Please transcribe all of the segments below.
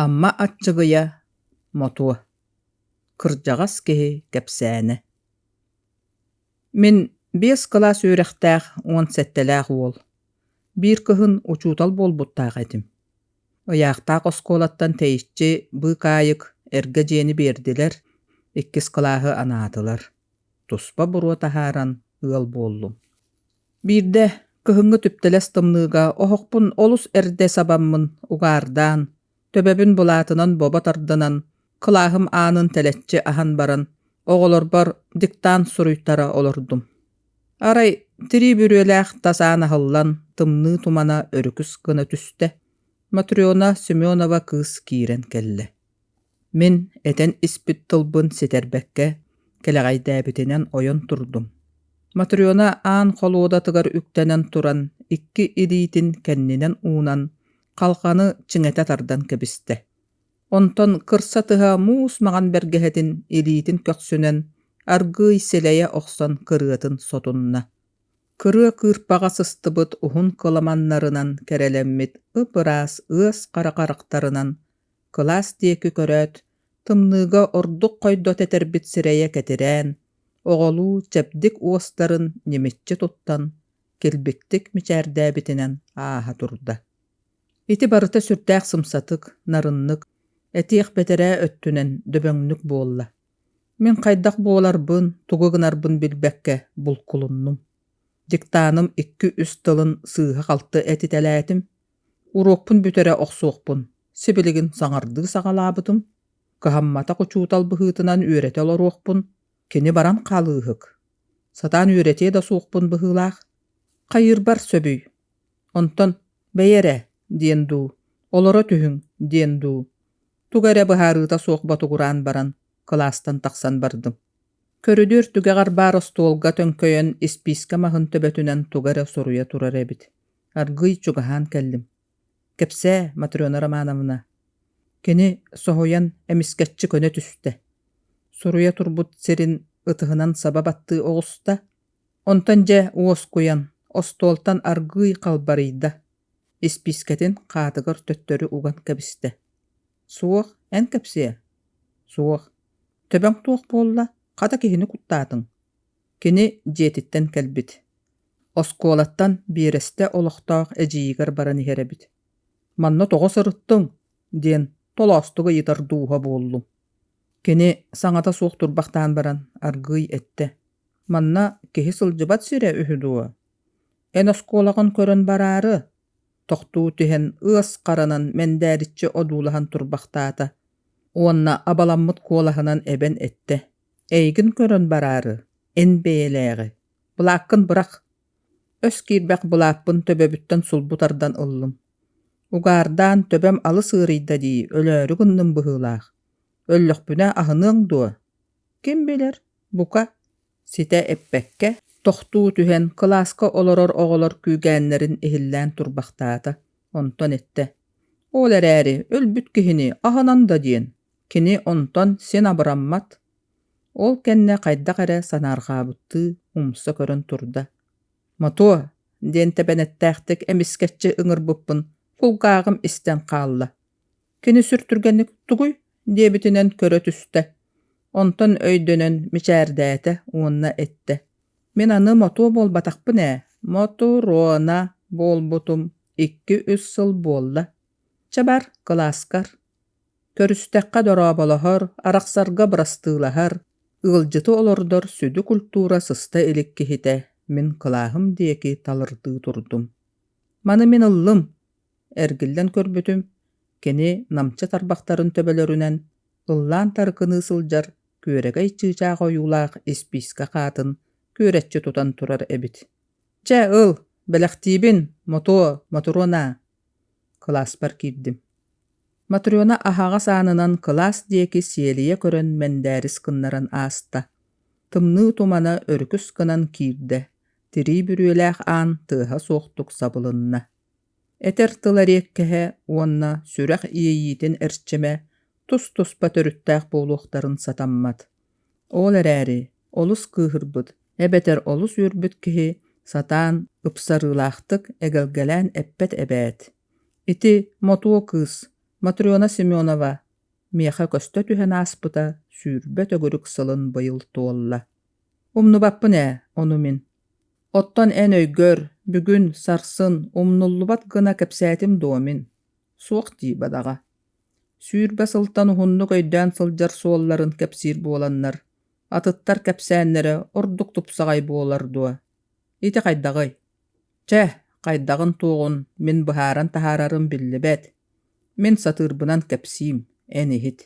Амма Аччыгыйа, Мотуо Кырдьаҕас киһи кэпсээнэ Мин биэс кылаас үөрэхтээх уон сэттэлээх уол. Биир кыһын учуутал буолбуттаах этим. Ыйаахтаах оскуолаттан тэйиччи быыкаайык, эргэ дьиэни биэрдилэр, иккис кылааһы анаатылар. туспа буруо таһааран ыал буоллум. Биирдэ кыһыҥҥы түптэлэс тымныыга оһохпун олус эрдэ сабаммын угаардаан, төбөбүн былаатынан бобо тардынан, кылааһым аанын тэлэччи аһан баран, оҕолорбор диктант суруйтара олордум. Арай тирии бүрүөлээх тас аан аһыллан, тымныы тумана өрүкүс гына түстэ. Матрена Семенова кыыс киирэн кэллэ. Мин этэн испит тылбын ситэрбэккэ, кэлэҕэйдээбитинэн ойон турдум. Матрена аан холуодатыгар үктэнэн туран, икки илиитин кэннинэн уунан, халҕаны чиҥэтэ тардан кэбистэ. Онтон кырсатыһа муус маҥан бэргэһэтин илиитин көхсүнэн, аргыый силэйэ охсон кырыатын сотунна. Кырыа кыырпаҕа сыстыбыт уһун кыламаннарынан кэрэлэммит ып-ыраас ыас хара харахтарынан кылаас диэки көрөөт, тымныыга ордук хойдо тэтэрбит сирэйэ кэтирээн, оҕолуу чэбдик уостарын ньимиччи туттан, килбиктик мичээрдээбитинэн ааһа турда. Ити барыта сүрдээх сымсатык, нарыннык, этиэх бэтэрээ өттүнэн дөбөҥнүк буолла. Мин хайдах буоларбын, тугу гынарбын билбэккэ булкулуннум. Диктаным икки-үс тылын сыыһа-халты этитэлээтим, Уруокпун бүтэрэ охсуохпун, сибилигин саҥардыы саҕалаабытым, кыһамматах учуутал быһыытынан үөрэтэ олоруохпун, кини баран хаалыыһык. Сатаан үөрэтиэ да суохпун быһыылаах. Хайыырбар сөбүй? Онтон бэйи эрэ диэн дуу, олоро түһүҥ диэн дуу, туга эрэ быһаарыыта суох ботугураан баран кылаастан тахсан бардым. Көрүдүөр түгэҕэр баар остуолга төҥкөйөн испиискэ маһын төбөтүнэн туга эрэ суруйа турар эбит. аргыый чугаһаан кэллим кэпсээ матрена романовна кини соһуйан эмискэччи көнө түстэ суруйа турбут сирин ытыһынан саба баттыы оҕуста онтон дьэ уоскуйан остуолтан аргыый халбарыйда испиискэтин хаатыгар төттөрү уган кэбистэ суох эн кэпсиэ суох төбөҥ туох буолла хата киһини куттаатыҥ Кини дьиэтиттэн кэлбит. Оскуолаттан биэрэстэ олохтоох эдьиийигэр баран иһэр эбит. «Манна тоҕо сырыттыҥ?» диэн толоостук ыйытар дууһа буоллум. Кини саҥата суох турбахтаан баран аргыый эттэ. «Манна киһи сылдьыбат сирэ үһү дуо? Эн оскуолаҕын көрөн бараары?» Тохтуу түһэн ыас харанан мэндээриччи одуулаһан турбахтаата уонна абаламмыт куолаһынан эбэн эттэ. Эйигин көрөн бараары, эн бэйэлээҕи, былааккын бырах. Өс киирбэх былааппын төбөбүттэн сулбу тардан ыллым. Угаардаан төбөм алыс ыарыйда дии, өлөөрү гынным быһыылаах. Өллөхпүнэ аһыныаҥ дуо? Ким билэр, бука, ситэ эппэккэ, тохтуу түһэн кылааска олорор оҕолор күүгээннэрин иһиллээн турбахтаата, онтон эттэ: «Ол эрээри өлбүт киһини аһынан да диэн». Кини онтон син абыраммат, ол кэннэ хайдах эрэ санаарҕаабыттыы умса көрөн турда. «Мотуо!» диэн тэбэнэттээхтик эмискэччи ыҥырбыппын кулгааҕым истэн хаалла. «Кини сүр түргэнник тугуй?» диэбитинэн көрө түстэ. Онтон өйдөнөн мичээрдээтэ уонна эттэ: «Мин аны мотуо буолбатахпын ээ, Мотуруона буолбутум икки-үс сыл буолла. Чабар кылааскар көрүстэххэ дорооболоһор, арахсарга бырастыылаһар, ыалдьыты олордор сүдү культура сыста илик киһитэ мин кылааһым диэки талырдыы турдум. Маны мин ыллым, эргиллэн көрбүтүм, кини намчы тарбахтарын төбөлөрүнэн ыллаан тарыкыныы сылдьар күөрэгэй чыычаах ойуулаах испиискэ хаатын күөрэччи тутан турар эбит. «Чэ ыл, бэлэхтиибин, мотуо, мотуруона» Кылааспар киирдим. Матрена аһаҕас аанынан кылаас диэки сиэлийэ көрөн мэндээрис гыннаран ааста. Тымныы тумана өрүкүс гынан киирдэ, тирии бүрүөлээх аан тыаһа суохтук сабылынна. Этэр тыл эриэккэһэ уонна сүрэх иэйиитин эрчимэ тус-туспа төрүттээх буолуохтарын сатаммат. Ол эрээри олус кыыһырбыт, эбэтэр олус үөрбүт киһи сатаан ыпсарыылаахтык эгэлгэлээн эппэт эбээт. Ити мотуо кыыс Матрена Семенова миэхэ көстө түһэн ааспыта сүүрбэ төгүрүк сылын быйыл туолла. Умнубаппын ээ ону мин. Оттон эн өйгөр бүгүн сарсын умнуллубат гына кэпсээтим дуо мин? Суох дии бадаҕа. Сүүрбэ сылтан уһуннук өйдөөн сылдьар суолларын кэпсиир буоланнар, атыттар кэпсээннэрэ ордук тупсаҕай буолар дуо? Ити хайдаҕый? Чэ, хайдаҕын-туоҕун мин быһааран таһаарарым биллибэт. Мин сатыырбынан кэпсиим, эн иһит.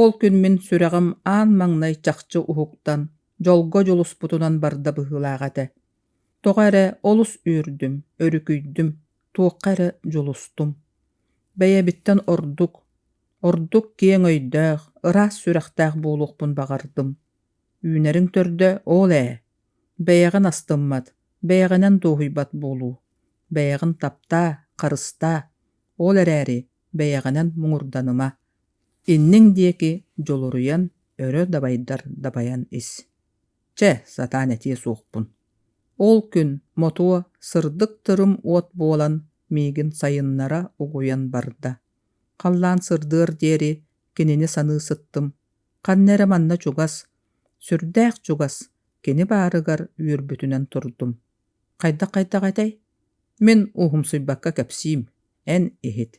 Ол күн мин сүрэҕим аан маҥнай чахчы уһуктан, дьолго дьулуспутунан барда быһыылаах этэ. Тоҕо эрэ олус үөрдүм, өрүкүйдүм, туохха эрэ дьулустум. Бэйэбиттэн ордук, ордук киэҥ өйдөөх, ыраас сүрэхтээх буолуохпун баҕардым. Үүнэриҥ төрдө ол ээ. Бэйэҕин астыммат, бэйэҕинэн дуоһуйбат буолуу. Бэйэҕин таптаа, харыстаа. Ол эрээри бэйэҕинэн муҥурданыма. Инниҥ диэки дьулуруйан, өрө дабайдар дабайан ис. Чэ, сатаан этиэ суохпун. Ол күн мотуо сырдык тырым уот буолан миигин сайыннара угуйан барда. Халлаан сырдыар диэри кинини саныы сыттым. Ханна эрэ манна чугас, сүрдээх чугас, кини баарыгар үөрбүтүнэн турдум. Хайдах хайдах этэй? Мин уһумсуйбакка кэпсиим, эн иһит.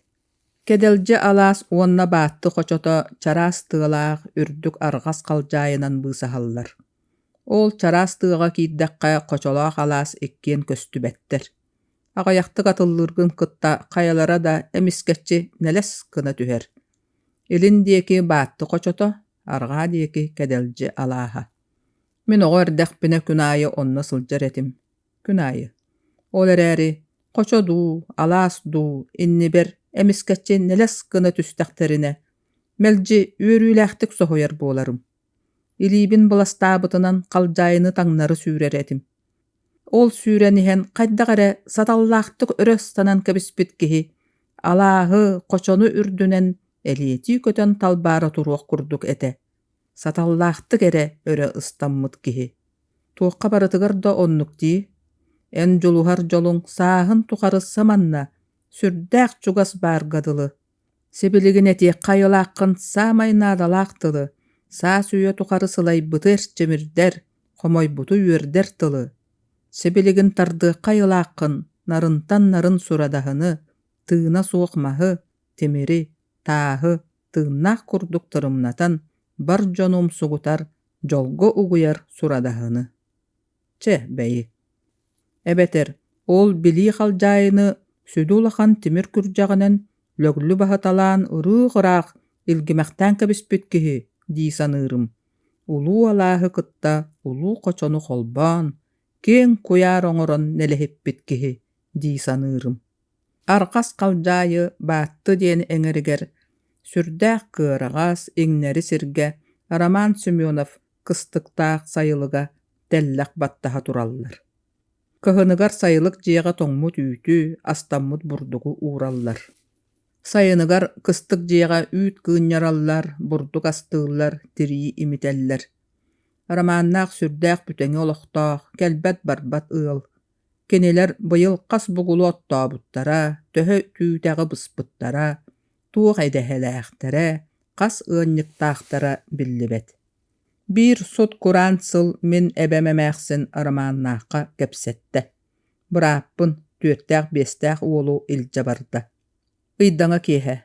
Кэдэлдьэ алаас уонна баатты хочото чараас тыалаах үрдүк арҕас халдьаайынан быысаһаллар. Ол чараас тыаҕа киирдэххэ хочолоох алаас иккиэн көстүбэттэр. Аҕыйахтык атыллыыргын кытта хайалара да эмискэччи нэлэс гына түһэр. Илин диэки баатты хочото, арҕаа диэки кэдэлдьи алааһа. Мин оҕо эрдэхпинэ күн аайы онно сылдьар этим. күн аайы. Ол эрээри хочо дуу, алаас дуу иннибэр эмискэччи нэлэс гына түстэхтэринэ, мэлдьи үөрүүлээхтик соһуйар буоларым. Илиибин быластаабытынан халдьаайыны таҥнары сүүрэр этим. Ол сүүрэн иһэн хайдах эрэ саталлаахтык өрө станан кэбиспит киһи алааһы, хочону үрдүнэн элиэтии көтөн талбаара туруох курдук этэ. Саталлаахтык эрэ өрө ыстаммыт киһи. Туохха барытыгар да оннук дии? Эн дьулуһар дьолуҥ сааһын тухары саманна сүрдээх чугас баарга дылы. Сибилигин этиэххэ айылааххын саамай наадалаах тылы, саас үйэ тухары сылайбыты эрчимирдэр, хомойбуту үөрдэр тылы. Сибилигин тардыахха айылааххын нарынтан нарын сурадаһыны, тыына суох маһы, тимири, тааһы, тыыннаах курдук тырымнатан, бар дьону умсугутар, дьолго угуйар сурадаһыны. Чэ, бэйи. Эбэтэр ол билии халдьаайыны сүдү улахан тимир күрдьэҕинэн лөглү баһыталаан ырыых-ыраах илгимэхтээн кэбиспит киһи дии саныырым. Улуу алааһы кытта улуу хочону холбоон, киэҥ куйаар оҥорон нэлэһиппит киһи дии саныырым. Арҕас халдьаайы Баатты диэн эҥэригэр сүрдээх кыараҕас, иҥнэри сиргэ Роман Семенов кыстыктаах сайылыга тэллэх баттаһа тураллар. Кыһыныгар сайылык дьиэҕэ тоҥмут үүтү, астаммыт бурдугу уураллар. Сайыныгар кыстык дьиэҕэ үүт кыынньараллар, бурдук астыыллар, тирии имитэллэр. Романнаах сүрдээх бүтэҥи олохтоох, кэлбэт-барбат ыал. Кинилэр быйыл хас бугулу оттообуттара, төһө түүтэҕи быспыттара, туох идэһэлээхтэрэ, хас ыанньыктаахтара биллибэт. Биир сут-кураан сыл мин эбэм эмээхсин Романнаахха кэпсэттэ: «Бырааппын, түөртээх-биэстээх уолу илдьэ барда» ыйдаҥа киэһэ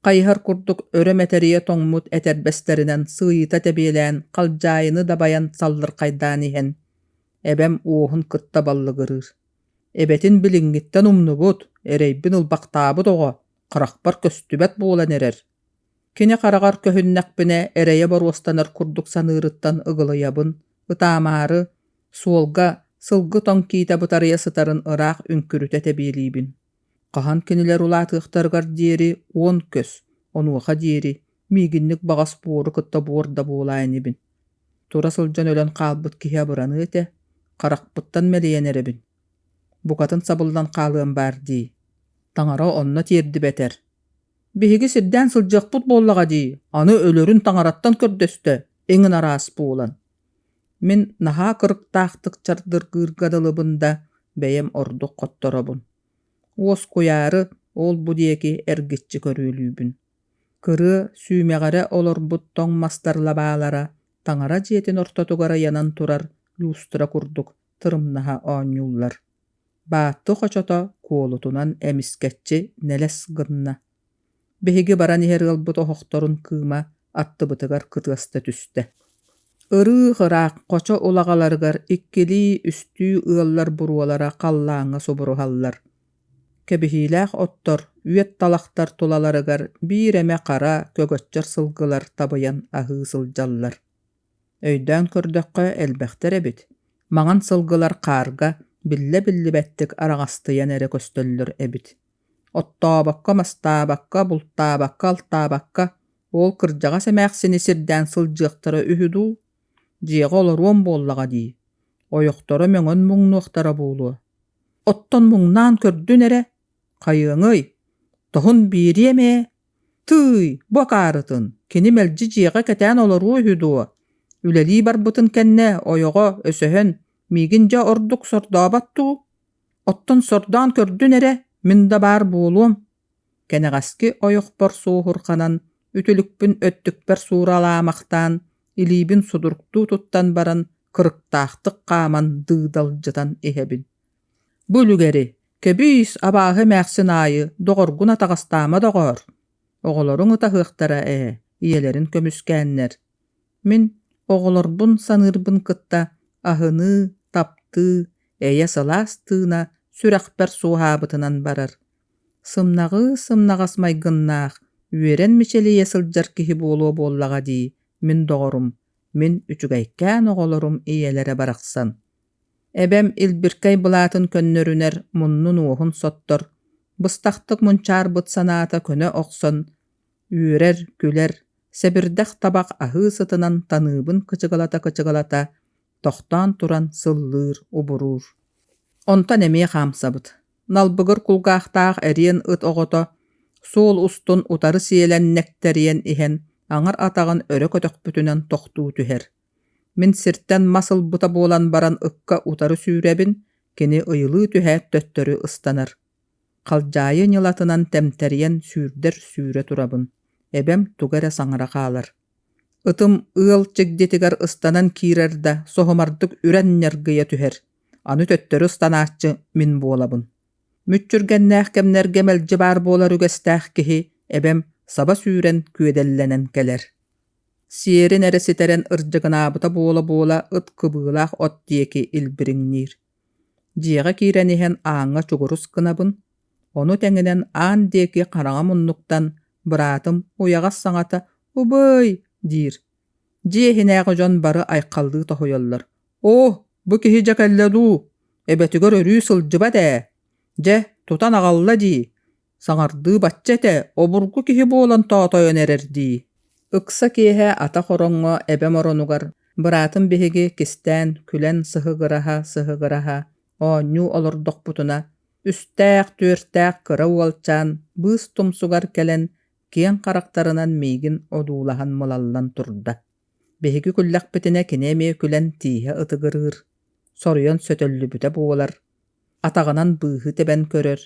хайыһар курдук өрө мэтэрийэ тоҥмут этэрбэстэринэн сыыйыта тэбиэлээн халдьаайыны дабайан саллырхайдаан иһэн эбэм уоһун кытта баллыгырыыр эбэтин билиҥҥиттэн умнубут эрэйбин ылбахтаабыт оҕо харахпар көстүбэт буолан эрэр кини хараҕар көһүннэхпинэ эрэйэ боруостанар курдук саныырыттан ыгылыйабын ытаамаары суолга сылгы тоҥ киитэ бытарыйа сытарын ыраах үҥкүрүтэ тэбиэлиибин Хаһан кинилэр улаатыахтарыгар диэри уон көс, онуоха диэри миигинник баҕас буору кытта буор да буолаан инибин. Тура сылдьан өлөн хаалбыт киһи абыраныа этэ, харахпыттан мэлийэн эрэбин. Букатын сабыллан хаалыам баар дии. Таҥара онно тиэрдибэтэр. Биһиги сирдээн сылдьыахпыт буоллаҕа дии, аны өлөрүн таҥараттан көрдөстө, иҥин араас буолан. Мин наһаа кырыктаахтык чардыргыырга дылыбын да, бэйэм ордук хотторобун. Уоскуйаары ол-бу диэки эргиччи көрүөлүүбүн. Кырыа сүүмэҕэрэ олорбут тоҥ мастар лабаалара таҥара дьиэтин ортотугар айанан турар люстра курдук тырымнаһа оонньууллар. Баатты хочото куолутунан эмискэччи нэлэс гынна Биһиги баран иһэр ыалбыт оһохторун кыыма аттыбытыгар кытыаста түстэ. Ырыых ыраах хочо улаҕаларыгар иккилии-үстүү ыаллар буруолара халлааҥҥа субуруһаллар. Кэбиһиилээх оттор үөт талахтар тулаларыгар биир эмэ хара көгөччөр сылгылар табыйан аһыы сылдьаллар. Өйдөөн көрдөххө элбэхтэр эбит. Маҥан сылгылар хаарга биллэ-биллибэттик араҕастыйан эрэ көстөллөр эбит. Оттообокко, мастаабакка, бултаабакка, алтаабакка уол кырдьаҕас эмээхсини сирдээн сылдьыахтара үһү дуу? Дьиэҕэ олоруом буоллаҕа дии, ойохторо мөҥөн муҥнуохтара буолуо. Оттон муҥнаан көрдүн эрэ, хайыаҥый, тоһун биэриэм ээ. Тыый, бу акаарытын, кини мэлдьи дьиэҕэ кэтээн олоруо үһү дуо? Үлэлии барбытын кэннэ ойоҕо өсөһөн, миигин дьэ ордук сордообот дуу? Оттон сордоон көрдүн эрэ, мин да баар буолуом, кэнэҕэски ойохпор суоһурҕанан, үтүлүкпүн өттүкпэр сууралаамахтаан, илиибин судургутуу туттан баран, кырыктаахтык хааман дыыдалдьытан иһэбин. «Бу үлүгэри, кэбиис, абааһы эмээхсин аайы доҕоргун атаҕастаама доҕоор! Оҕолоруҥ ытаһыахтара ээ, ийэлэрин көмүскээннэр» Мин оҕолорбун саныырбын кытта аһыныы, таптыы, эйэ сылаас тыына сүрэхпэр суоһаабытынан барар. Сымнаҕыы-сымнаҕас майгыннаах, үөрэн мичилийэ сылдьар киһи буолуо буоллаҕа дии мин доҕорум, мин үчүгэйкээн оҕолорум ийэлэрэ барахсан. Эбэм илбиркэй былаатын көннөрүнэр муннун-уоһун соттор, быстахтык мунчаарбыт санаата көнө охсон, үөрэр, күлэр, сэбирдэх табах аһыы сытынан таныыбын кычыгалата-кычыгалата тохтоон туран сыллыыр, убуруур. Онтон эмиэ хаамсабыт. Налбыгыр кулгаахтаах эриэн ыт оҕото суол устун утары сиэлэн нэктэриэн иһэн аҥар атаҕын өрө көтөхпүтүнэн тохтуу түһэр. Мин сиртэн мас ылбыта буолан баран ыкка утары сүүрэбин, кини ыйылыы түһээт төттөрү ыстанар. Халдьаайы ньылатынан тэмтэрийэн сүүрдэр сүүрэ турабын, эбэм туга эрэ саҥара хаалар. Ытым ыал чигдитигэр ыстанан киирэр да соһумардык үрэн ньаргыйа түһэр, аны төттөрү ыстанааччы мин буолабын. Мүччүргэннээх кэмнэргэ мэлдьи баар буолар үгэстээх киһи эбэм саба сүүрэн күөдэллэнэн кэлэр. Сиэрин эрэ ситэрэн ырдьыгынаабыта буола-буола ыт кыбыылаах от диэки илбириҥниир. Дьиэҕэ киирэн иһэн ааҥҥа чугурус гынабын, ону тэҥинэн аан диэки хараҥа муннуктан быраатым уйаҕас саҥата «убыай» диир. Дьиэ иһинээҕи дьон бары айхаллыы тоһуйаллар. «Оо, бу киһи дьэ кэллэ дуу? Эбэтигэр өрүү сылдьыбат ээ. Дьэ, тутан аҕалла дии». Саҥардыы бачча этэ, обургу киһи буолан тоотойон эрэрдии. Ыкса киэһэ ата хороҥҥо эбэм оронугар быраатым биһиги кистээн күлэн сыһыгыраһа сыһыгыраһа оонньуу олордохпутуна үстээх түөртээх кыра уолчаан быыс тумсугар кэлэн киэҥ харахтарынан миигин одуулаһан мылаллан турда. Биһиги күллэхпитинэ кини эмиэ күлэн тииһэ ытыгырыыр, соруйан сөтөллүбүтэ буолар, атаҕынан быыһы тэбэн көрөр,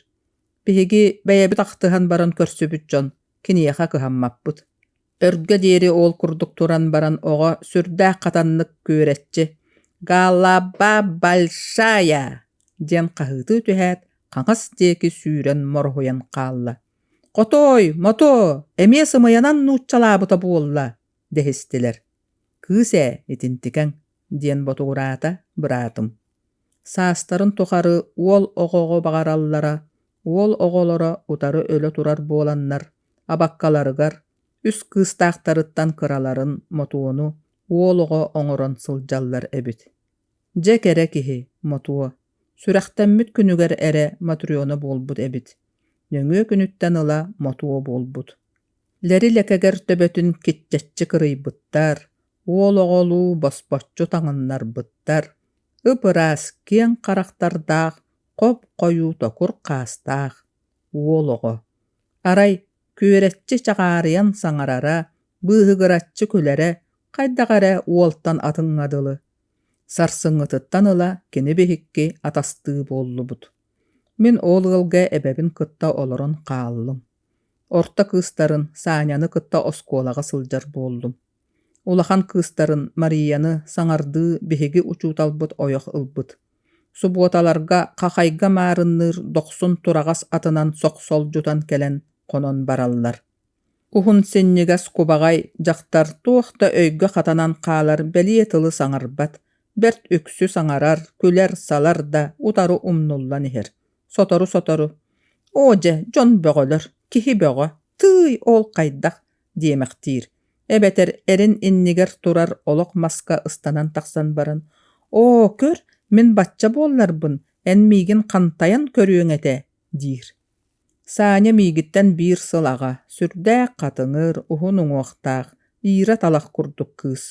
Биһиги бэйэбит ахтыһан баран көрсүбүт дьон киниэхэ кыһаммаппыт. Өргө диэри ол курдук туран баран оҕо сүрдээх хатаннык күөрэччи «Галаба большая!» диэн хаһыытыы түһээт, хаҥас диэки сүүрэн морҕуйан хаалла. «Хотой, мотоо, эмиэ сымыйанан нууччалаабыта буолла!» дэһистилэр. «Кыыс ээ, итинтикэҥ!» диэн ботугураата быраатым. саастарын тухары уол оҕоҕо баҕараллара уол оҕолоро утары өлө турар буоланнар абаккаларыгар үс кыыстаахтарыттан кыраларын мотуону уол оҕо оҥорон сылдьаллар эбит дьэ кэрэ киһи мотуо сүрэхтэммит күнүгэр эрэ матрена буолбут эбит нөҥүө күнүттэн ыла мотуо буолбут лэри лэкэгэр төбөтүн киччэччи кырыйбыттар Уол оҕолуу босбоччу таҥыннарбыттар, ып-ыраас киэҥ харахтардаах, хоп-хойуу токур хаастаах уол оҕо. Арай күөрэччи чаҕаарыйан саҥарара, быыһыгыраччы күлэрэ, хайдах эрэ уолтан атыҥҥа дылы. Сарсыҥҥытыттан ыла кини биһикки атастыы буоллубут. Мин ол ыалга эбэбин кытта олорон хааллым. Орто кыыстарын Саняны кытта оскуолаҕа сылдьар буоллум. Улахан кыыстарын Марияны саҥардыы биһиги учууталбыт ойох ылбыт. Субуоталарга хахайга маарынныыр дохсун тураҕас атынан сохсолдьутан кэлэн хонон бараллар. Уһун синньигэс кубаҕай дьахтар туох да өйгө хатанан хаалар бэлиэ тылы саҥарбат, бэрт үксү саҥарар, күлэр-салар да утары умнуллан иһэр. Сотору-сотору «Оо дьэ, дьон бөҕөлөр, киһи бөҕө, тыый ол хайдах диэмэхтиир, эбэтэр эрин иннигэр турар олох маска ыстанан тахсан баран «Оо, көр, мин бачча буолларбын, эн миигин хантайан көрүөҥ этэ» диир. Саня миигиттэн биир сыл аҕа, сүрдээх хатыҥыр, уһун уҥуохтаах, иирэ-талах курдук кыыс.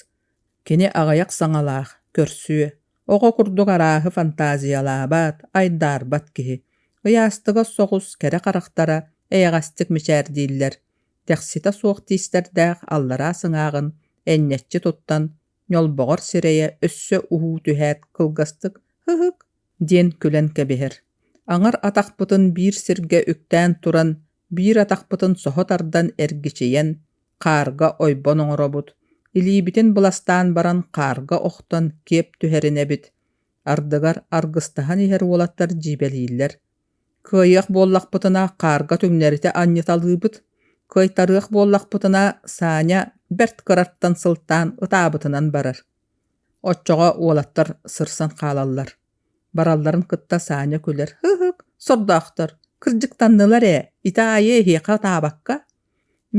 Кини аҕыйах саҥалаах, көрсүө, оҕо курдук арааһы фантазиялаабат, айдаарбат киһи. Ыйаастыга соҕус кэрэ харахтара эйэҕэстик мичээрдииллэр. тэхситэ суох тиистэрдээх аллараа сыҥааҕын энньэччи туттан ньолбоҕор сирэйэ өссө уһуу түһээт кылгастык «һыһык» диэн күлэн кэбиһэр аҥар атахпытын биир сиргэ үктээн туран биир атахпытын соһо тардан эргичийэн хаарга ойбон оҥоробут илиибитин быластаан баран хаарга охтон киэп түһэринэбит ардыгар аргыстаһан иһэр уолаттар дьиибэлииллэр Кыайыах буоллахпытына хаарга түҥнэритэ анньыталыыбыт, кыайтарыах буоллахпытына Саня бэрт кыраттан сылтаан ытаабытынан барар. Оччоҕо уолаттар сырсан хаалаллар. Баралларын кытта Саня күлэр: «Һыһык, сордоохтор, кырдьыктаннылар ээ, ити аайы эһиэхэ ытаабакка.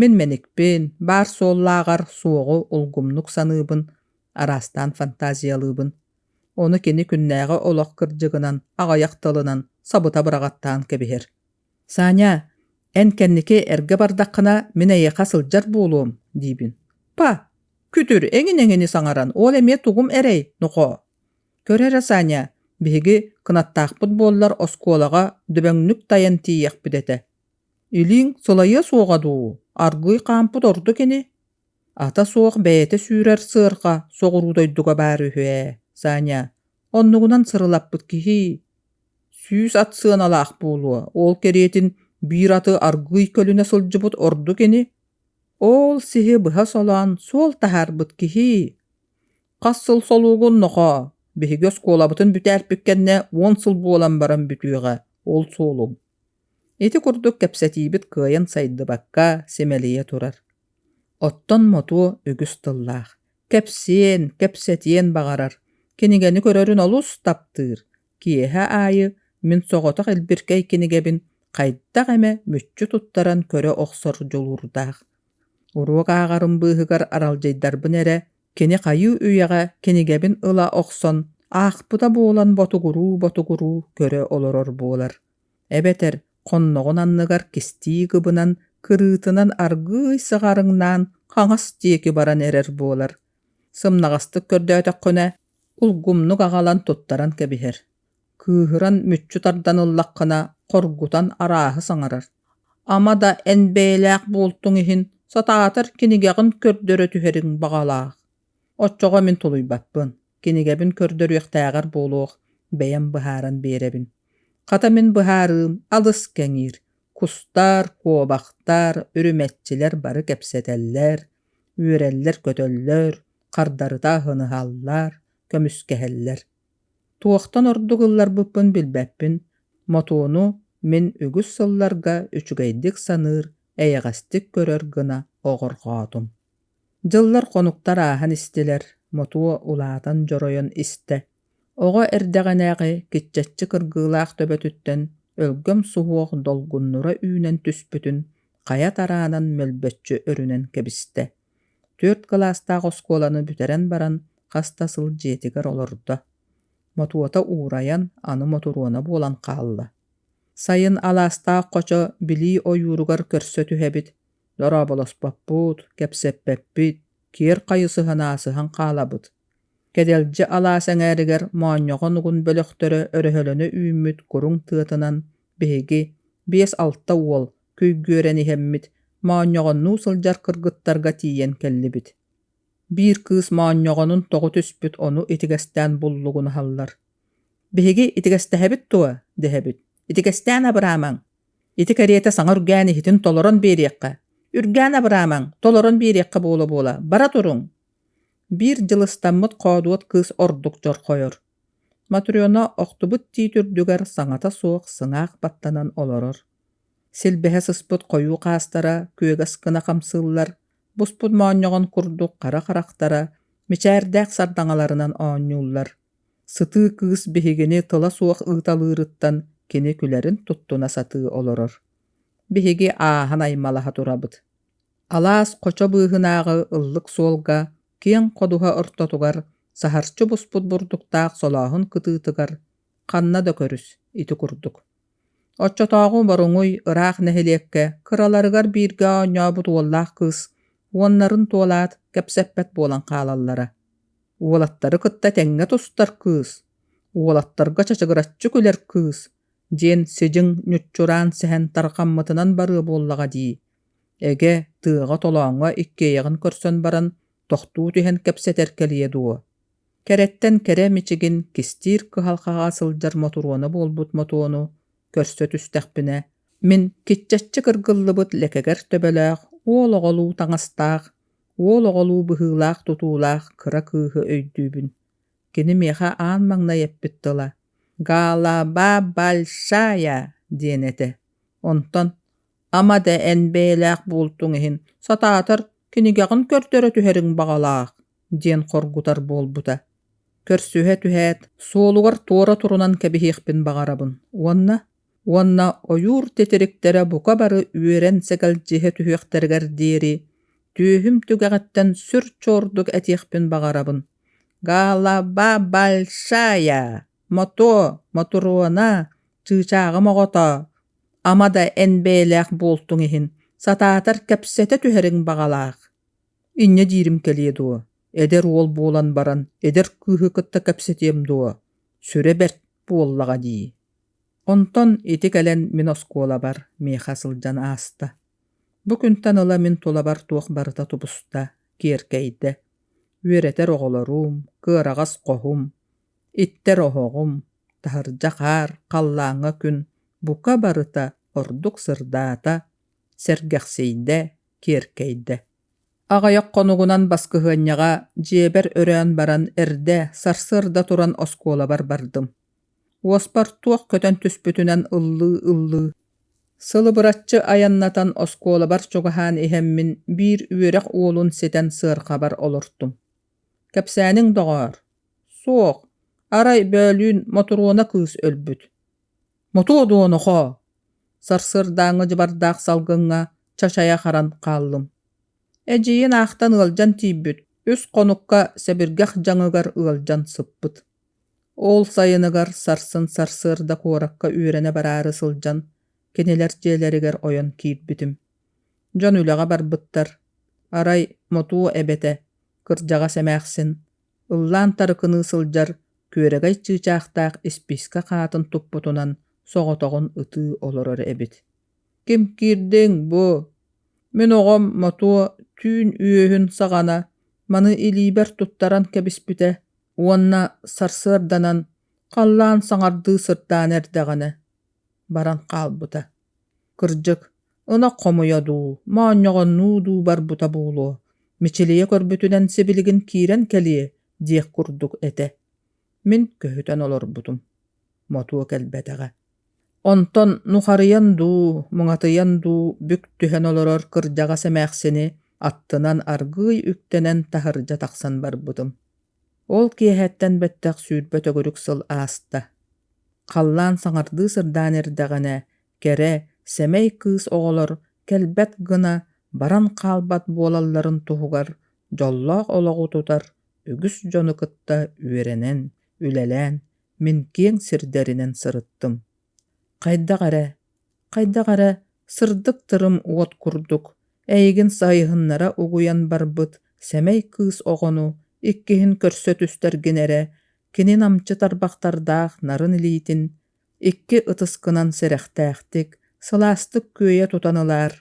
Мин мэникпин, баар суоллааҕар суоҕу улгумнук саныыбын, араастаан фантазиялыыбын. Ону кини күннээҕи олох кырдьыгынан, аҕыйах тылынан сабыта быраҕаттаан кэбиһэр. «Саня, эн кэнники эргэ бардаххына мин эйиэхэ сылдьар буолуом» диибин. «Па, күтүр эҥин-эҥини саҥаран ол эмиэ тугум эрэй, нохоо?» «Көр эрэ, Саня, биһиги кынаттаахпыт буоллар оскуолаҕа дүбэҥнүк тайан тиийиэхпит этэ. Илииҥ сылайыа суоҕа дуу, аргыый хаампыт ордук ини?» ата суох бэйэтэ сүүрэр сыарҕа соҕуруу дойдуга баар үһү ээ саня оннугунан сырылаппыт киһии сүүс ат сыаналаах буолуо ол кэриэтин биир аты аргыый көлүнэ сылдьыбыт ордук ини ол сиһи быһа солоон суол таһаарбыт киһии хас сыл солуугун нохоо биһиги оскуолабытын бүтээрпит кэннэ уон сыл буолан баран бүтүөҕэ ол суолуҥ ити курдук кэпсэтиибит кыайан сайдыбакка симэлийэ турар Оттон мотуо үгүс тыллаах, кэпсиэн, кэпсэтиэн баҕарар, кинигэни көрөрүн олус таптыыр, киэһэ аайы мин соҕотох илбиркэй кинигэбин хайдах эмэ мүччү туттаран көрө охсор дьулуурдаах. Уруок ааҕарым быыһыгар аралдьыйдарбын эрэ, кини хайыы үйэҕэ кинигэбин ыла охсон аахпыта буолан ботугуруу-ботугуруу көрө олорор буолар. эбэтэр хонноҕун анныгар кистии кыбынан кырыытынан аргыый сыҕарыҥнаан хаҥас диэки баран эрэр буолар сымнаҕастык көрдөөтөххүнэ улгумнук аҕалан туттаран кэбиһэр кыыһыран мүччү тардан ыллаххына хоргутан арааһы саҥарар ама да эн бэйэлээх буолтуҥ иһин сатаатар кинигэҕин көрдөрө түһэриҥ баҕалаах Оччоҕо мин тулуйбаппын, кинигэбин көрдөрүөхтээҕэр буолуох, бэйэм быһааран биэрэбин. Хата мин быһаарыым алыс кэҥиир. Кустар, куобахтар, үрүмэччилэр бары кэпсэтэллэр, үөрэллэр-көтөллөр, хардарыта аһын ыһаллар, көмүскэһэллэр. Туохтан ордук ылларбыппын билбэппин, мотуону мин үгүс сылларга үчүгэйдик саныыр, эйэҕэстик көрөр гына оҕорхоотум Дьыллар хонуктар ааһан истилэр, мотуо улаатан дьоройон истэ. Оҕо эрдэҕинээҕи киччаччы кыргыылаах төбөтүттэн өлгөм суһуох долгуннура үүнэн түспүтүн хайа тараанан мөлбөччү өрүнэн кэбистэ. Түөрт кылаастаах оскуоланы бүтэрэн баран хаста сыл дьиэтигэр олордо. Мотуота уурайан аны мотуруона буолан хаалла. Сайын алаастаах хочо билии ойууругар көрсө түһэбит. дорооболоспоппут, кэпсэппэппит, киэр хайысыһын аасыһан хаалабыт. Кэдэлдьи алаас эҥээригэр моонньоҕон угун бөлөхтөрө өрөһөлөнө үүммүт куруҥ тыатынан биһиги биэс-алта уол күйгүөрэн иһэммит моонньоҕоннуу сылдьар кыргыттарга тиийэн кэллибит. Биир кыыс моонньоҕонун тоҕу түспүт ону итигэстээн буллугун аһаллар. «Биһиги итигэстэһэбит дуо?» – дэһэбит. «Итигэстээн абыраамаҥ!» Ити кэриэтэ саҥа үргээн иһитин толорон биэриэххэ. Үргээн Абраамаҥ, толорон биэриэххэ буола-буола. Бара туруҥ. Биир дьыл ыстаммыт хоодуот кыыс ордук дьорхойор. Матрена охтубут тиит үрдүгэр саҥата суох сыҥаах баттанан олорор. Силбэһэ сыспыт хойуу хаастара күөг аскына хамсыыллар, буспут моонньоҕон курдук хара харахтара мичээрдээх сардаҥаларынан оонньууллар. Сытыы кыыс биһигини тола суох ыыталыырыттан кини күлэрин туттуна сатыы олорор. Биһиги ааһан аймалаһа турабыт. Алаас хочо быыһынааҕы ыллык суолга киэҥ ходуһа ортотугар саһарчы буспут бурдуктаах солооһун кытыытыгар ханна да көрүс ити курдук Оччотооҕу Боруҥуй ыраах нэһилиэккэ кыраларыгар бииргэ оонньообут уоллаах кыыс уоннарын туолаат кэпсэппэт буолан хаалаллара. Уолаттары кытта тэҥҥэ тустар кыыс, уолаттарга чачыгыраччы күлэр кыыс диэн сидьиҥ ньуччураан сэһэн тарҕаммытынан барыа буоллаҕа дии, эгэ тыаҕа толооҥҥо иккиэйэҕин көрсөн баран тохтуу түһэн кэпсэтэр кэлиэ дуо Кэрэттэн кэрэ мичигин кистиир кыһалҕаҕа сылдьар мотуруона буолбут мотуону көрсө түстэхпинэ, мин киччаччы кыргыллыбыт лэкэгэр төбөлөөх, уол оҕолуу таҥастаах, уол оҕолуу быһыылаах тутуулаах кыра кыыһы өйдүүбүн. Кини миэхэ аан маҥнай эппит тыла «Галаба большая» диэн этэ. Онтон ама да эн бэйэлээх буолтуҥ иһин сатаатар кинигэҕин көрдөрө түһэриҥ баҕалаах диэн хоргутар буолбута көрсүһэ түһээт суолугар туора турунан кэбиһиэхпин баҕарабын уонна уонна ойуур титириктэрэ бука бары үөрэн сэгэлдьиһэ түһүөхтэригэр диэри түөһүм түгэҕиттэн сүр чуордук этиэхпин баҕарабын гаала ба большая Мотуо, мотуруона, чыычааҕым оҕотоо, ама да эн бэйэлээх буолтуҥ иһин, сатаатар кэпсэтэ түһэриҥ баҕалаах. Инньэ диирим кэлиэ дуо, эдэр уол буолан баран эдэр кыыһы кытта кэпсэтиэм дуо, сүрэ бэрт буоллаҕа дии. Онтон ити кэлэн мин оскуолабар миэхэ сылдьан ааста. Бу күнтэн ыла мин тулабар туох барыта тубуста, киэркэйдэ. Үөрэтэр оҕолорум, кыараҕас хоһум, Иттэр оһоҕум, таһырдьа хаар халлааҥҥа күн бука барыта ордук сырдаата, сэргэхсийдэ, киэркэйдэ. Аҕыйах хонугунан баскыһыанньаҕа дьиэбэр өрөөн баран эрдэ сарсыарда туран оскуолабар бардым. Уоспар туох көтөн түспүтүнэн ыллыы-ыллыы, сылыбыраччы айаннатан оскуолабар чугаһаан иһэммин биир үөрэх уолун ситэн сыарҕабар олортум. Кэпсээниҥ, доҕоор, суох, арай Бөөлүүн Мотуруона кыыс өлбүт. Мотуо дуону хоо, сарсыардааҥҥы дьыбардаах салгыҥҥа чачайа харан хааллым. Эдьиийин аахтан ыалдьан тиийбит, үс хонукка сэбиргэх дьаҥыгар ыалдьан сыппыт. Ол сайыныгар сарсын сарсыарда куоракка үөрэнэ бараары сылдьан, кинилэр дьиэлэригэр ойон киирбитим. дьон үлэҕэ барбыттар арай мотуо эбэтэ кырдьаҕас эмээхсин ыллаан тарыкыныы сылдьар күөрэгэй чыычаахтаах испиискэ хаатын туппутунан соҕотоҕун ытыы олорор эбит ким киирдиҥ бу мин оҕом мотуо түүн үөһүн саҕана маны илиибэр туттаран кэбиспитэ уонна сарсыарданан халлаан саҥардыы сырдаан эрдэҕинэ баран хаалбыта Кырдьык, ынах хомуйа дуу, моонньоҕоннуу дуу барбыта буолуо, Мичилийэ көрбүтүнэн сибилигин киирэн кэлиэ диэх курдук этэ. Мин көһүтэн олорбутум. Мотуо кэлбэтэҕэ. Онтон нухарыйан дуу, муҥатыйан дуу бүк түһэн олорор кырдьаҕас эмээхсини аттынан аргыый үктэнэн таһырдьа тахсан барбытым. Ол киэһэттэн бэттэх сүүрбэ төгүрүк сыл ааста. Халлаан саҥардыы сырдаан эрдэҕинэ, кэрэ, сэмэй кыыс оҕолор кэлбэт гына баран хаалбат буолалларын туһугар дьоллоох олоҕу тутар үгүс дьону кытта үөрэнэн, үлэлээн, мин киэҥ сирдэринэн сырыттым. Хайдах эрэ, хайдах эрэ сырдык тырым уот курдук эйигин сайыһыннара угуйан барбыт сэмэй кыыс оҕону иккиһин көрсө түстэргин эрэ кини намчы тарбахтардаах нарын илиитин икки ытыскынан сэрэхтээхтик, сылаастык күөйэ тутан ылаар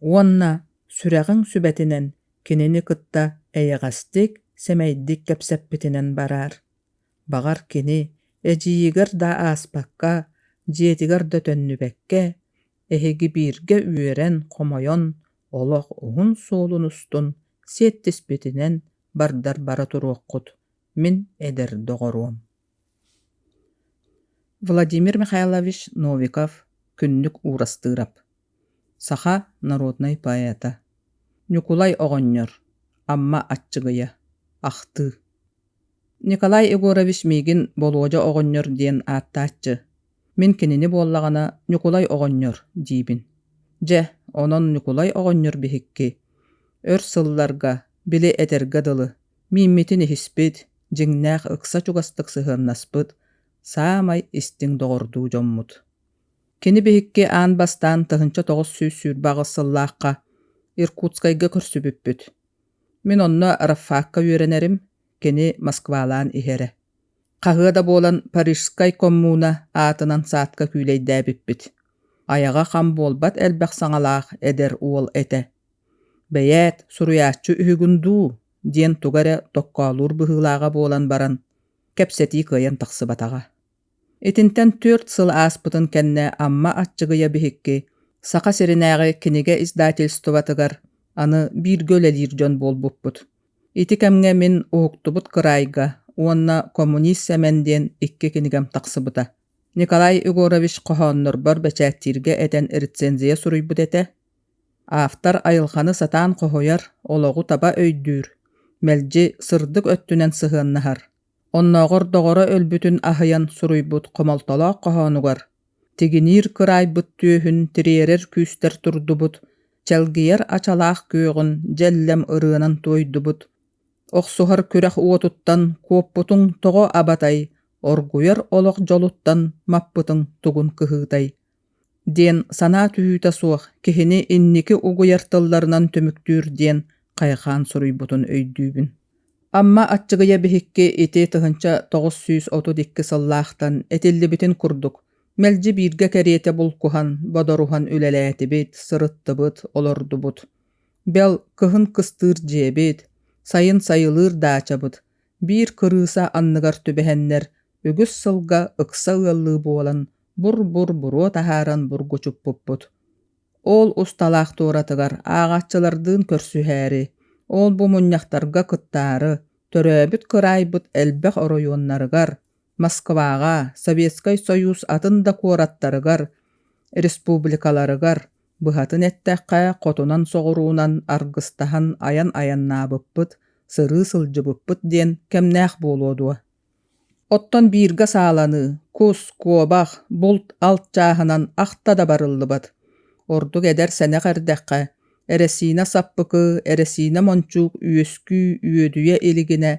уонна сүрэҕиҥ сүбэтинэн кинини кытта эйэҕэстик, сэмэйдик кэпсэппитинэн бараар. Баҕар кини эдьиийигэр да ааспакка, дьиэтигэр да төннүбэккэ, эһиги бииргэ үөрэн-хомойон, олох уһун суолун устун сиэттиспитинэн бардар бара туруоххут, мин эдэр доҕоруом Владимир Михайлович Новиков, Күннүк Уурастыырап Саха народнай поэта, Ньукулай оҕонньор, Амма Аччыгыйа, ахтыы. Николай Егорович миигин Болуодьа оҕонньор диэн ааттааччы. Мин кинини буоллаҕына Ньукулай оҕонньор диибин. Дьэ, онон Ньукулай оҕонньор биһикки өр сылларга, били этэргэ дылы, мииммитин иһиспит, дьиҥнээх ыкса чугастык сыһыаннаспыт, саамай истиҥ доҕордуу дьоммут. Кини биһикки аан бастаан тыһыынча тоҕус сүүс сүүрбэ аҕыс сыллаахха Иркутскайга көрсүбүппүт. Мин онно Рафаакка үөрэнэрим, кини Москвалаан иһэрэ. Хаһыа да буолан Парижскай коммуна аатынан саадка күүлэйдээбиппит. Айаҕа хам буолбат элбэх саҥалаах эдэр уол этэ. «Бэйээт, суруйааччы үһүгүн дуу?» диэн туга эрэ токкоолуур быһыылааҕа буолан баран, кэпсэтии кыайан тахсыбатаҕа. Итинтэн түөрт сыл ааспытын кэннэ Амма Аччыгыйа биһикки Саха сиринээҕи кинигэ издательствотыгар аны бииргэ үлэлиир дьон буолбуппут. Ити кэмҥэ мин уһуктубут кыраайга уонна «Коммунист Сэмэн» диэн икки кинигэм тахсыбыта. Николай Егорович хоһооннорбор бэчээттииргэ этэн рецензия суруйбут этэ. Автор айылҕаны сатаан хоһуйар, олоҕу таба өйдүүр, мэлдьи сырдык өттүнэн сыһыаннаһар. оннооҕор доҕоро өлбүтүн аһыйан суруйбут хомолтолоох хоһоонугар тигиниир кыраайбыт түөһүн тириэрэр күүстэр турдубут, чэлгийэр ачалаах күөҕүн дьэллэм ырыанан туойдубут, охсуһар күрэх уотуттан куоппутуҥ тоҕо абатай, оргуйар олох дьолуттан маппытыҥ тугун кыһыытай, диэн санаа түһүүтэ суох киһини инники угуйар тылларынан түмүктүүр диэн хайхаан суруйбутун өйдүүбүн амма аччыгыйа биһикки ити тыһыынча тоҕус сүүс отут икки сыллаахтан этиллибитин курдук мэлдьи бииргэ кэриэтэ булкуһан бодоруһан үлэлээтибит сырыттыбыт олордубут бэл кыһын кыстыыр дьиэбит сайын сайылыыр даачабыт биир кырыыса анныгар түбэһэннэр үгүс сылга ыкса ыаллыы буолан бур-бур буруо таһааран бургучуппуппут ол усталаах туоратыгар ааҕааччылардыын көрсүһээри ол-бу мунньахтарга кыттаары төрөөбүт кыраайбыт элбэх оройуоннарыгар москваҕа советскай союз атын да куораттарыгар республикаларыгар Быһатын эттэххэ, хотунан-соҕуруунан аргыстаһан айан айаннаабыппыт, сырыы сылдьыбыппыт диэн кэмнээх буолуо дуо? Оттон бииргэ сааланыы, кус, куобах, булт алт чааһынан ахта да барыллыбат. Ордук эдэр сэнэх эрдэххэ, эрэсиинэ саппыкы, эрэсиинэ мончуук үөскүү үөдүйэ илигинэ,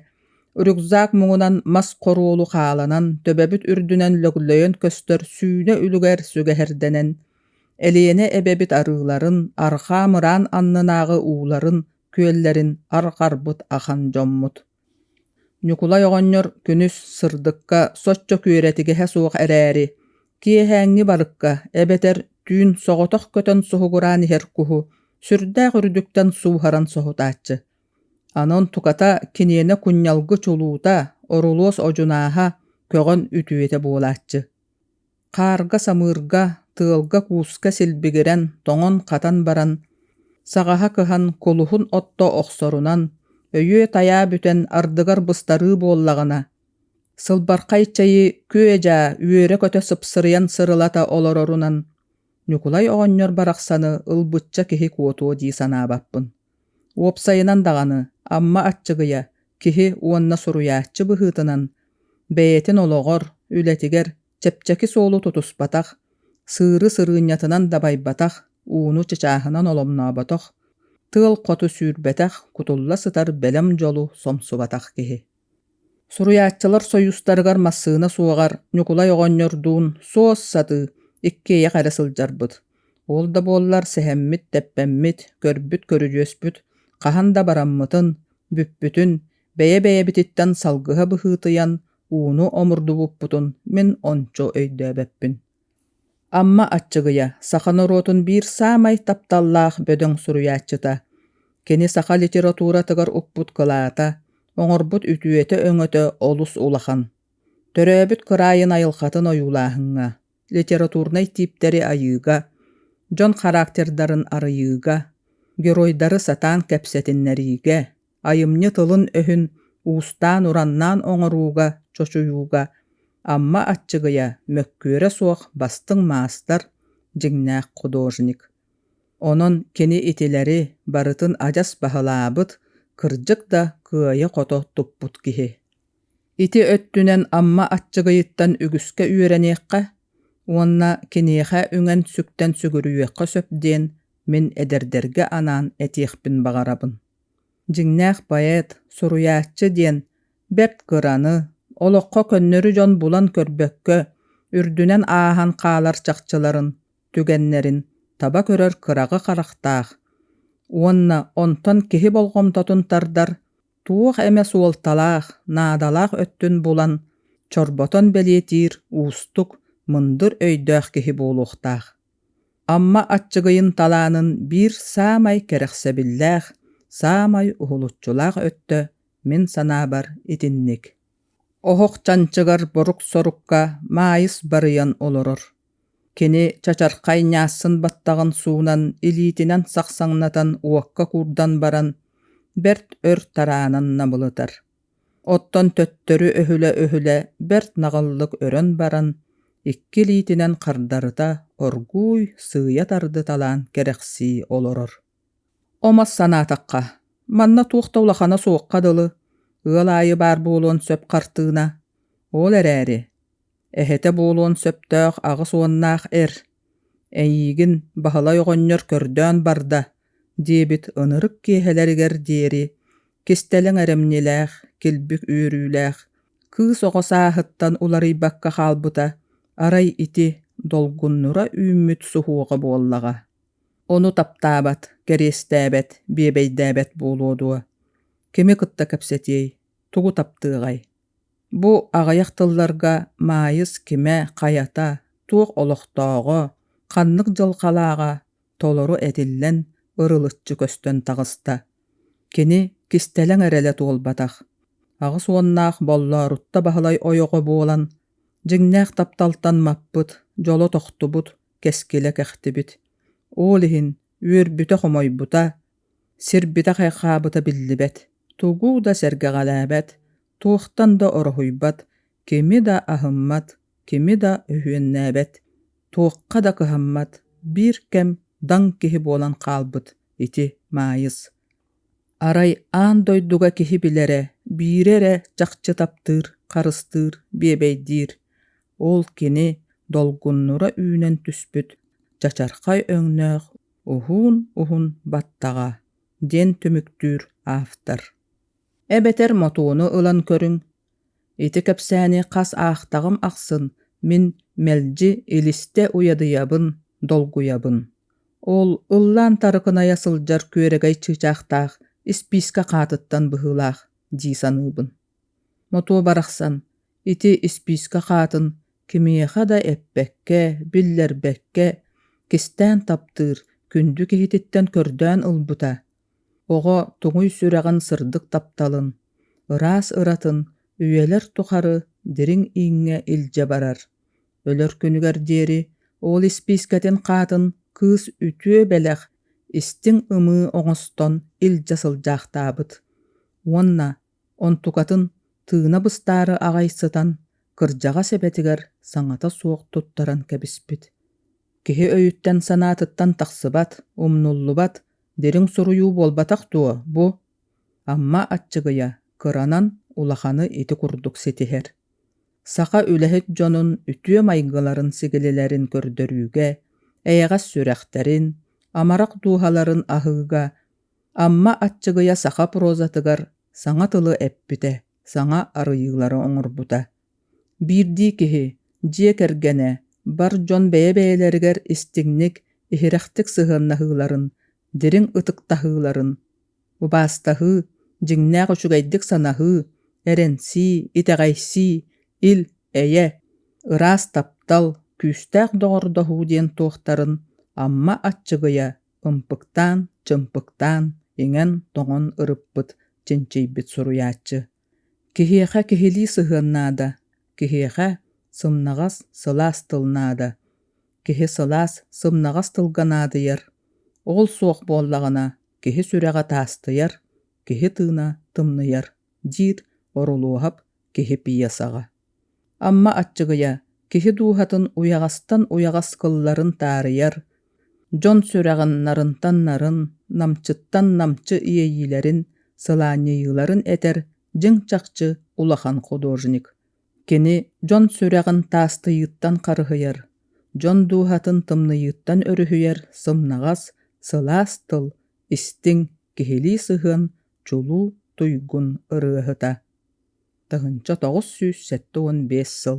рюкзак муҥунан мас хоруолу хааланан, төбөбүт үрдүнэн лөглөйөн көстөр сүүнэ үлүгэр сүгэһэрдэнэн, Элиэнэ эбэбит арыыларын, арҕаа мыраан аннынааҕы ууларын, күөллэрин арҕарбыт ахан дьоммут Ньукулай оҕонньор күнүс сырдыкка соччо күөрэтигэһэ суох эрээри, киэһээҥҥи барыкка эбэтэр түүн соҕотох көтөн суһугураан иһэр куһу сүрдээх үрдүктэн сууһаран соһутааччы. Анон туката киниэнэ кунньалгы чулуута, орулуос одьунааһа, көҕөн үтүөтэ буолааччы. хаарга-самыырга, тыалга-кууска силбигирэн, тоҥон-хатан баран, саҕаһа кыһан, кулуһун отто охсорунан, өйүө-тайаа бүтэн ардыгар быстарыы буоллаҕына, сылбархай чэйи күө-дьаа үөрэ-көтө сыпсырыйан сырылата олорорунан Ньукулай оҕонньор барахсаны ылбычча киһи куотуо дии санаабаппын. Уопсайынан даҕаны, Амма Аччыгыйа киһи уонна суруйааччы быһыытынан бэйэтин олоҕор, үлэтигэр чэпчэки суолу тутуспатах, сыыры сырыынньатынан дабайбатах, ууну чычааһынан оломнооботох, тыал хоту сүүрбэтэх, кутулла сытар бэлэм дьолу сомсубатах киһи. Суруйааччылар союзтарыгар массыына суоҕар Ньукулай оҕонньордуун суос-сатыы иккиэйэх эрэ сылдьарбыт. Ол да буоллар сэһэммит, тэппэммит, көрбүт көрүдьүөспүт хаһан да бараммытын, бүппүтүн, бэйэ-бэйэбититтэн салгыһа быһыытыйан, ууну омурдубуппутун мин ончу өйдөөбөппүн Амма Аччыгыйа саха норуотун биир саамай тапталлаах бөдөҥ суруйааччыта. Кини саха литературатыгар укпут кылаата, оҥорбут үтүөтэ-өҥөтө олус улахан. Төрөөбүт кыраайын айылхатын ойуулааһыҥҥа, литературнай тииптэри айыыга, дьон характердарын арыйыыга, геройдары сатаан кэпсэтиннэриигэ, айымньы тылын-өһүн уустаан-ураннаан оҥорууга, чочуйууга Амма Аччыгыйа мөккүөрэ суох бастыҥ маастар, дьиҥнээх художник. Онон кини итилэри барытын адьас баһылаабыт, кырдьык да кыайа-хото туппут киһи. Ити өттүнэн Амма Аччыгыйыттан үгүскэ үөрэниэххэ уонна киниэхэ үҥэн сүктэн сүгүрүйүөххэ сөп диэн мин эдэрдэргэ анаан этиэхпин баҕарабын. дьиҥнээх поэт суруйааччы диэн бэрт кыраны олоххо көннөрү дьон булан көрбөккө үрдүнэн ааһан хаалар чахчыларын түгэннэрин таба көрөр кыраҕы харахтаах уонна онтон киһи болҕомтотун тардар туох эмэ суолталаах наадалаах өттүн булан чорботон бэлиэтиир уустук мындыр өйдөөх киһи буолуохтаах Амма Аччыгыйын талаанын биир саамай кэрэхсэбиллээх, саамай уһулуччулаах өттө мин санаабар итинник. Оһох чанчыгар борук-сорукка Маайыс барыйан олорор. Кини чачархай ньаассын баттаҕын суунан илиитинэн сахсаҥнатан уокка куурдан баран, бэрт өр тараанан набылытар. Оттон төттөрү-өһүлэ-өһүлэ бэрт наҕыллык өрөн баран, икки илиитинэн хардарыта оргууй, сыыйа тардыталаан кэрэхсии олорор. Омос санаатахха, манна туох да улахана суохха дылы, ыал аайы баар буолуон сөп хартыына, ол эрээри, эһэтэ буолуон сөптөөх аҕыс уоннаах эр, эйиигин Баһылай оҕонньор көрдөөн барда, диэбит ынырык киэһэлэригэр диэри кистэлэҥ эрэмньилээх, килбик үөрүүлээх кыыс оҕо сааһыттан уларыйбакка хаалбыта арай ити долгуннура үүммүт суһуоҕа буоллаҕа. Ону таптаабат, кэриэстээбэт, биэбэйдээбэт буолуо дуо? Кими кытта кэпсэтиэй, тугу таптыаҕай? Бу аҕыйах тылларга Маайыс кимэ, хайата, туох олохтооҕо, ханнык дьылҕалааҕа, толору этиллэн, ырылыччы көстөн таҕыста. Кини кистэлэҥ эрэлэ туолбатах, аҕыс уоннаах Боллоорутта Баһылай ойоҕо буолан, дьиҥнээх тапталтан маппыт, дьоло тохтубут, кэскилэ кэхтибит. Ол иһин үөрбүтэ-хомойбута, сирбитэ-хайхаабыта биллибэт, тугу да сэргэҕэлээбэт, туохтан да ороһуйбат, Кими да аһыммат, кими да үһүөннээбэт, туохха да кыһаммат биир кэм даҥ киһи буолан хаалбыт ити Маайыс. Арай аан дойдуга киһи билэрэ, биирэ эрэ чахчы таптыыр, харыстыыр, биэбэйдиир. Ол кини долгуннура үүнэн түспүт чачархай өҥнөөх уһуун-уһун баттаҕа диэн түмүктүүр автор. Эбэтэр мотууну ылан көрүҥ, Ити кэпсээни хас аахтаҕым ахсын мин мэлдьи илистэ уйадыйабын, долгуйабын. Ол ыллаан тарыкынайа сылдьар күөрэгэй чыычаахтаах испиискэ хаатыттан быһыылаах дии саныыбын. Мотуо барахсан ити испиискэ хаатын кимиэхэ да эппэккэ, биллэрбэккэ кистээн таптыыр күндү киһититтэн көрдөөн ылбыта Оҕо туҥуй сүрэҕин сырдык тапталын, ыраас ыратын үйэлэр тухары дириҥ ииҥҥэ илдьэ барар. Өлөр күнүгэр диэри уол испиискэтин хаатын кыыс үтүө бэлэх, истиҥ ымыы оҥостон илдьэ сылдьаахтаабыт уонна онтукатын тыына быстаары аҕай сытан кырдьаҕас эбэтигэр саҥата суох туттаран кэбиспит киһи өйүттэн санаатыттан тахсыбат умнуллубат дириҥ суруйуу буолбатах дуо бу амма аччыгыйа кыранан улаханы ити курдук ситиһэр саха үлэһит дьонун үтүө майгыларын сигилилэрин көрдөрүүгэ эйэҕэс сүрэхтэрин амарах дууһаларын аһыыга Амма Аччыгыйа саха прозатыгар саҥа тылы эппитэ, саҥа арыйыылары оҥорбута. Биирдии киһи, дьиэ кэргэнэ, бар дьон бэйэ-бэйэлэригэр истиҥник, иһирэхтик сыһыаннаһыыларын, дириҥ ытыктаһыыларын, убаастаһыы, дьиҥнээх үчүгэйдик санаһыы, эрэнсии, итэҕэйсии, ил, эйэ, ыраас таптал, күүстээх доҕордоһуу диэн туохтарын Амма Аччыгыйа ымпыктаан, чымпыктаан, иҥэн-тоҥон ырыппыт, чинчийбит суруйааччы. Киһиэхэ киһилии сыһыан наада, киһиэхэ сымнаҕас, сылаас тыл наада, киһи сылаас, сымнаҕас тылга наадыйар. Ол суох буоллаҕына, киһи сүрэҕэ таастыйар, киһи тыына тымныйар, диир Орулуоһап киһи пьесаҕа Амма Аччыгыйа киһи дууһатын уйаҕастан уйаҕас кылларын таарыйар, дьон сүрэҕин нарынтан нарын, намчыттан намчы иэйиилэрин, сылаанньыйыыларын этэр дьиҥ чахчы улахан художник. Кини дьон сүрэҕин таастыйыыттан харыһыйар, дьон дууһатын тымныйыыттан өрүһүйэр сымнаҕас, сылаас тыл, истиҥ, киһилии сыһыан чулуу туйгун ырыаһыта тыһыынча тоҕус сүүс сэттэ уон биэс сыл